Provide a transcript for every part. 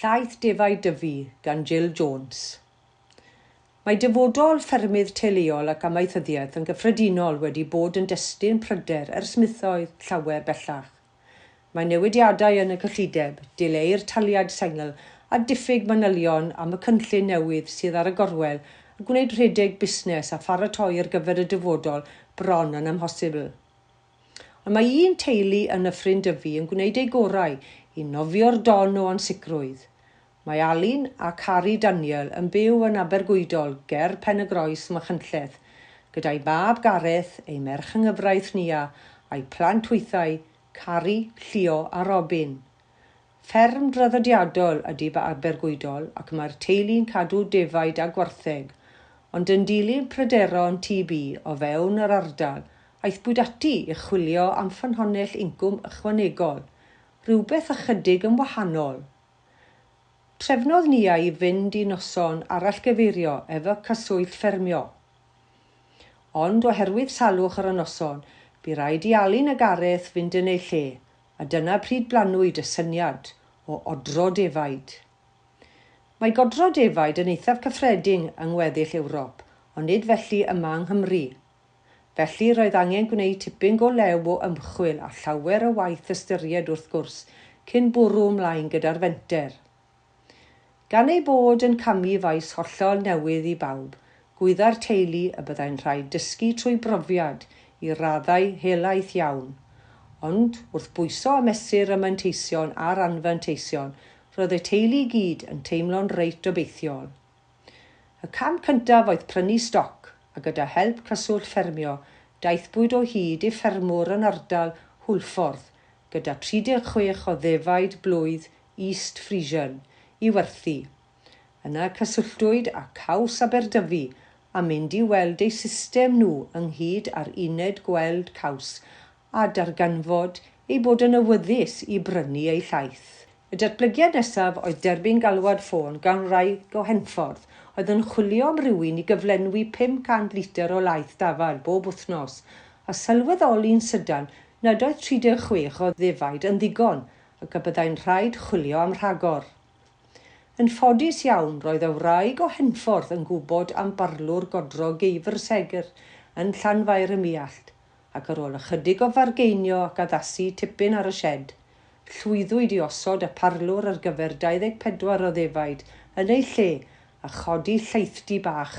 Llaeth Defaid Dyfi gan Jill Jones. Mae dyfodol ffermydd teuluol ac amaethyddiaeth yn gyffredinol wedi bod yn destun pryder ers misoedd llawer bellach. Mae newidiadau yn y cyllideb, dileu'r taliad sengl a diffyg manylion am y cynllun newydd sydd ar y gorwel yn gwneud rhedeg busnes a pharatoi ar gyfer y dyfodol bron yn amhosibl. Ond mae un teulu yn Nyffryn Dyfi yn gwneud eu gorau i nofio'r don o ansicrwydd. Mae Alun a Carrie Daniel yn byw yn Abergwydol ger Pen-y-groes, Machynlleth, gyda'u mab Gareth, eu merch yng nghyfraith Nia, a'u plant hwythau, Carrie, Llio a Robin. Fferm draddodiadol ydy Ba Abergwydol ac mae'r teulu'n cadw defaid a gwartheg, ond yn dilyn pryderon TB o fewn yr ardal, aethpwyd ati i chwilio am ffynhonnell incwm ychwanegol, rhywbeth ychydig yn wahanol. Trefnodd Nia i fynd i noson arallgyfeirio efo Cyswllt Ffermio. Ond oherwydd salwch ar y noson, bu raid i Alun a Gareth fynd yn eu lle, a dyna pryd blannwyd y syniad o odro defaid. Mae godro defaid yn eithaf cyffredin yng ngweddill Ewrop, ond nid felly yma yng Nghymru. Felly, roedd angen gwneud tipyn go lew o ymchwil a llawer o waith ystyried wrth gwrs cyn bwrw ymlaen gyda'r fenter. Gan eu bod yn camu faes hollol newydd i bawb, gwyddai'r teulu y byddai'n rhaid dysgu trwy brofiad i raddau helaeth iawn. Ond, wrth bwyso a mesur y manteision a'r anfanteision, roedd y teulu i gyd yn teimlo'n reit obeithiol. Y cam cyntaf oedd prynu stoc, a gyda help Cyswllt Ffermio, daethpwyd o hyd i ffermwr yn ardal Hwlffordd gyda 36 o ddefaid blwydd East Frisian, i werthu. Yna cysylltwyd â Caws Aberdyfi am mynd i weld eu system nhw ynghyd â'r uned gweld caws a darganfod eu bod yn awyddus i brynu eu llaeth. Y datblygiad nesaf oedd derbyn galwad ffôn gan wraig o Henffordd oedd yn chwilio am rywun i gyflenwi 500 litr o laeth dafarn bob wythnos a sylweddoli'n sydan nad oedd 36 o ddefaid yn ddigon ac y byddai'n rhaid chwilio am rhagor. Yn ffodus iawn, roedd y wraig o Henffordd yn gwybod am barlwr godro geifr segr yn Llanfair ym Muallt, ac ar ôl ychydig o fargeinio ac addasu tipyn ar y sied, llwyddwyd i osod y parlwr ar gyfer 24 o ddefaid yn ei lle a chodi llaethdy bach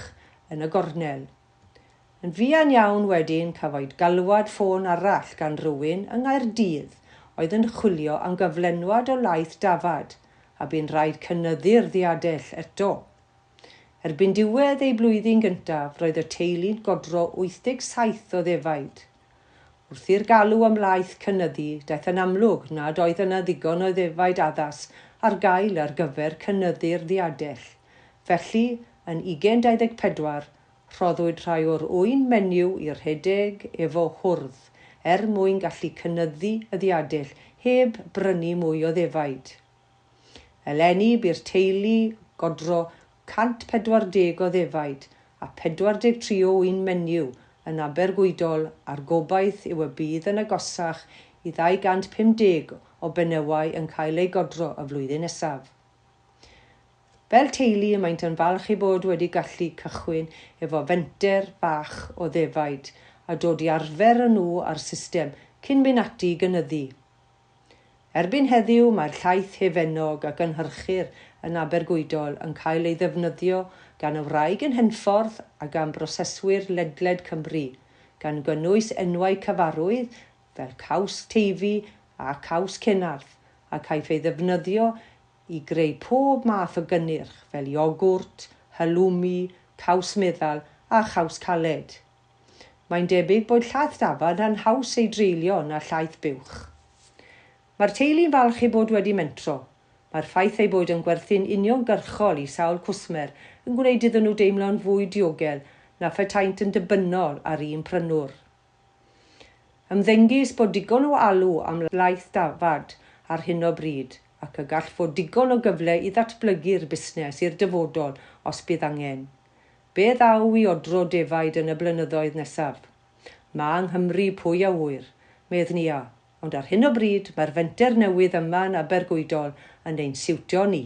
yn y gornel. Yn fuan iawn wedyn cafwyd galwad ffôn arall gan rywun yng Nghaerdydd oedd yn chwilio am gyflenwad o laeth dafad a bu'n rhaid cynyddu'r ddiadell eto. Erbyn diwedd eu blwyddyn gyntaf roedd y teulu'n godro 87 o ddefaid. Wrth i'r galw am laeth cynyddu daeth yn amlwg nad oedd yna ddigon o ddefaid addas ar gael ar gyfer cynyddu'r ddiadell, felly yn 2024 Rhoddwyd rhai o'r ŵyn menyw i redeg efo hwrdd er mwyn gallu cynyddu y ddiadell heb brynu mwy o ddefaid. Eleni bu'r teulu godro 140 o ddefaid a 43 o ŵyn menyw yn Abergwydol a'r gobaith yw y bydd yn agosach i 250 o benywau yn cael eu godro y flwyddyn nesaf. Fel teulu y maent yn falch eu bod wedi gallu cychwyn efo fenter bach o ddefaid a dod i arfer y nhw a'r system cyn mynd ati i gynyddu. Erbyn heddiw mae'r llaeth hefennog a gynhyrchir yn Abergweudol yn cael ei ddefnyddio gan y wraig yn Henffordd a gan broseswyr ledled Cymru, gan gynnwys enwau cyfarwydd fel Caws Teifi a Caws Cenarth a caiff ei ddefnyddio i greu pob math o gynnyrch fel iogwrt, halloumi, caws meddal a chaws caled. Mae'n debyg bod llaeth dafad yn haws ei dreulio na llaeth buwch. Mae'r teulu'n falch eu bod wedi mentro. Mae'r ffaith eu bod yn gwerthu'n uniongyrchol i sawl cwsmer yn gwneud iddyn nhw deimlo'n fwy diogel na phetaent yn dibynol ar un prynwr. Ymddengys bod digon o alw am laeth dafad ar hyn o bryd ac y gall fod digon o gyfle i ddatblygu'r busnes i'r dyfodol os bydd angen. Be ddaw i odro defaid yn y blynyddoedd nesaf? Mae Nghymru, pwy a ŵyr? medd Nia, ond ar hyn o bryd mae'r fenter newydd yma yn Abergwydol yn ein siwtio ni.